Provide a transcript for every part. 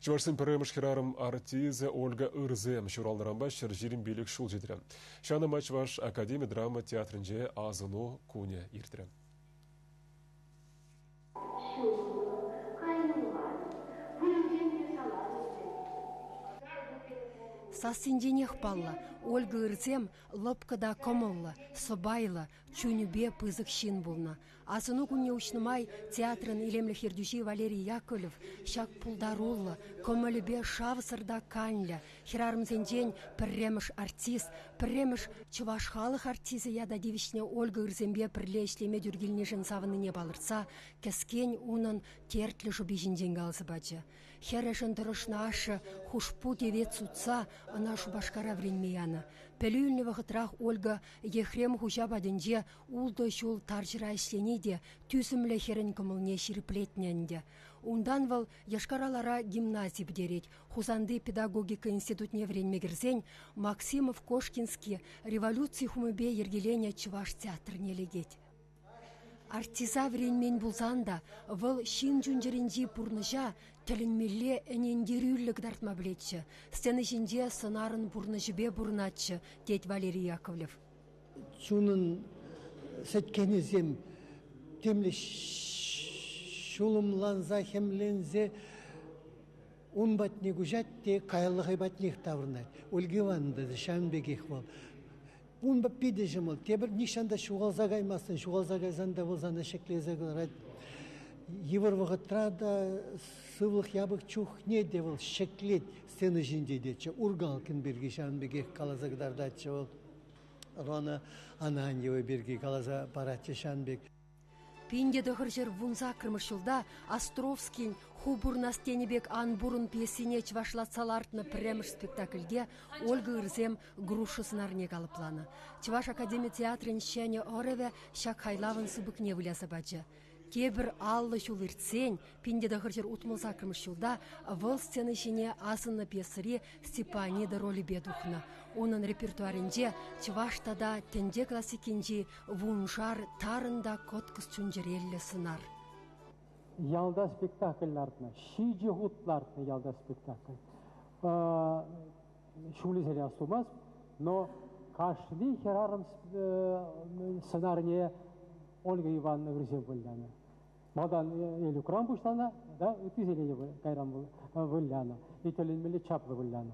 Чӑвашсен пӗрремӗш хӗрарӑм артисчӗ Ольга Ырсем ҫуралнӑранпа ҫӗр ҫирӗм пилӗк ҫул ҫитрӗ. Ҫавна май Чӑваш академи драма театрӗнче асӑну кунӗ иртрӗ. Сассинченех паллӑ, Ольга Ырсем лӑпкӑ та кӑмӑллӑ, сӑпайлӑ, чунӗпе пысӑк ҫын пулнӑ. Асӑну кунне уҫнӑ май театрӑн илемлӗх ертӳҫи Валерий Яковлев ҫак пултаруллӑ, кӑмӑлӗпе шавсӑр та канлӗ, хӗрарӑмсенчен пӗрремӗш артист, пӗрремӗш чӑваш халӑх артисӗ ята тивӗҫнӗ Ольга Ырсемпе пӗрле ӗҫлеме тӳр килнишӗн савӑннине палӑртса кӗскен унӑн тертлӗ шӑпи ҫинчен каласа пачӗ. Хӗрӗшӗн тӑрӑшнӑ ашшӗ хушпу тевет сутса ӑна Шупашкара вӗренме янӑ. Пӗлӳ илнӗ вӑхӑтрах Ольга Ехрем хуҫа патӗнче ултӑ ҫул тарҫӑра ӗҫлени те тӳсӗмлӗ хӗрӗн кӑмӑлне ҫирӗплетнӗ ӗнтӗ. Унтан вӑл Йошкар-Алара гимнази пӗтерет. Хусанти педагогика институтне вӗренме кӗрсен Максимов Кошкинский революци хумӗпе йӗркеленӗ чӑваш театрне лекет. Артиса вӗренмен пулсан та вӑл ҫын чун-чӗринчи пурнӑҫа тӗлӗнмелле ӗнентерӳллӗ кӑтартма пӗлетчӗ, сцена ҫинче сӑнарӑн пурнӑҫӗпе пурӑнатчӗ, тет Валерий Яковлев. Чунӑн сӗткенӗсем темле ҫулӑмланса, хӗмленсе ун патне куҫать те каялла хӑй патнех таврӑнать. Ольга Ивановна та ҫавӑн пекех вӑл. Унпа питӗ ҫӑмӑл. Тепӗр нихҫан та ҫухалса каймастӑн. Ҫухалса кайсан та вӑл сана ҫӗклесе кӑларать. Йывӑр вӑхӑтра та сывлӑх япӑх чухне те вӑл ҫӗклет сцена ҫинче тетчӗ. Ургалкин пирки ҫавӑн пекех каласа кӑтартатчӗ вӑл. Ӑрлана Ананьева пирки каласа паратчӗ ҫавӑн пек. Пин те тӑхӑр ҫӗр вун саккӑрмӗш ҫулта Островскин «Ху пурнас» тенӗ пек ан пурӑн пьесине чӑвашлатса лартнӑ пӗрремӗш спектакльте Ольга Ырсем груша сӑнарне калӑпланӑ. Чӑваш академи театрӗн ҫӗнӗ ӑрӑвӗ ҫак хайлавӑн сыпӑкне выляса пачӗ. Тепӗр аллӑ ҫул иртсен, пин те тӑхӑр ҫӗр утмӑл саккӑрмӗш ҫулта вӑл сцена ҫине асӑннӑ пьесӑри Степанида ролӗпе тухнӑ. Унӑн репертуарӗнче чӑваш тата тӗнче классикинчи Вуншар тарӑн та кӑткӑс чун-чӗреллӗ сӑнар. Ялта спектакль лартнӑ, ҫичӗ хут лартнӑ ялта спектакль. Ҫулӗсене астумасть, но кашни хӗрарӑм сӑнарне Ольга Ивановна вӗрсе вылянӑ. Малтан Элюкран пуҫланӑ, да ыттисене те кайран вылянӑ, итӗленмелле чаплӑ вылянӑ.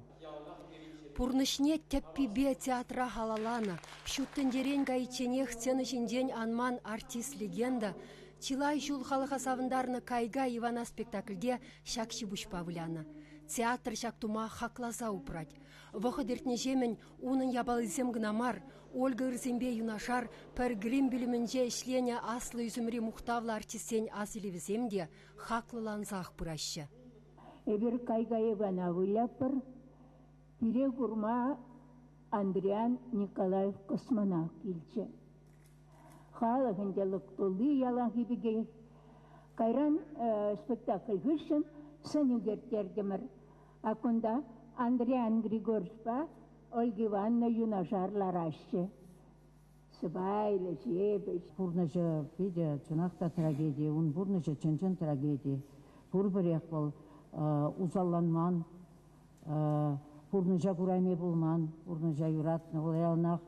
Пурнӑҫне тӗппипе театра халалланӑ, ҫут тӗнчерен кайичченех сцена ҫинчен анман артист-легенда чылай ҫул халӑха савӑнтарнӑ «Кайга Ивана» спектакльте ҫак ҫипуҫпа вылянӑ. Театр ҫак тума хакласа упрать. Вӑхӑт иртнӗҫемӗн Унӑн япалисем кӑна мар, Ольга ырсемпе юнашар пӗр грим пӳлӗмӗнче ӗҫленӗ аслӑ ӳсӗмри мухтавлӑ артистсен асилӗвӗсем те хаклӑлансах пыраҫҫӗ. Эпир кай-кайӑкана вылятпӑр. Пире курма Андриян Николаев космонавт килчӗ. Халӑх ӗнтӗ лӑк тулли яланхи пекех. Кайран спектакль хыҫҫӑн сӑн ӳкерттертӗмӗр. Кунта Андриан Григорьевпа Ольга Ивановна юнашар лараҫҫӗ. Сӑпайлӑ, ҫепӗҫ. Пурнӑҫӗ питӗ чӑнах та трагеди. Ун пурнӑҫӗ чӑн-чӑн трагеди. Пурпӗрех вӑл усалланман, пурнӑҫа курайми пулман, пурнӑҫа юратнӑ. Вӑл яланах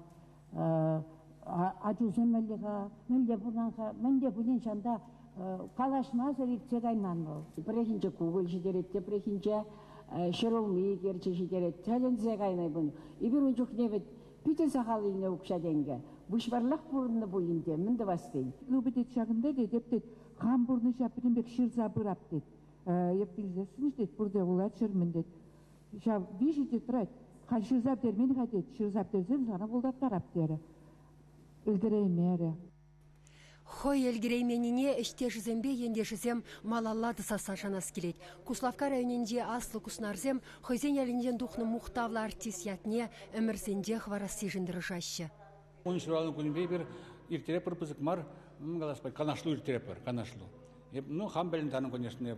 ачусем мӗнле-ха, мӗнле пулнӑ-ха, мӗнле пулин ҫанта калаҫмасӑр иртсе кайман вӑл. Пӗррехинче кукӑль ҫитерет, тепрехинче ҫӗр улми икерчи ҫитерет, тӗлӗнсе кайнӑ пуль. Эпир ун чухне вӗт питӗ сахал илнӗ укҫа-тенкӗ, выҫварлах пурӑннӑ пулин те мӗн тӑвас тен. Ывӑ тет ҫакӑнта, тетӗп, тет, хам пурнӑҫа пӗтӗм пек ҫырса пырап, тет. Эп вилсессӗн-и, тет, пурте вулаччӑр-мӗн, тет. ҫав виҫӗ тетрадь халь ҫырса пӗтермен-ха тет, ҫырса пӗтерсен сана пултартарап терӗ. Ӗлкӗреймерӗ. Хӑй ӗлкӗрейменнине ӗҫтешӗсемпе ентешӗсем малалла тӑсасса шанас килет. Куславкка районӗнчи Аслӑ Куснарсем хӑйсен ялӗнчен тухнӑ мухтавлӑ артист ятне ӗмӗрсенче хӑварассишӗн тӑрӑшаҫҫӗ. Ун ҫуралнӑ кунӗпе эпир ирттеретпӗр пысӑк мар, каласпа канашлу ирттеретпӗр, канашлу. Эп, ну, хам пӗлен тарӑн, конечно,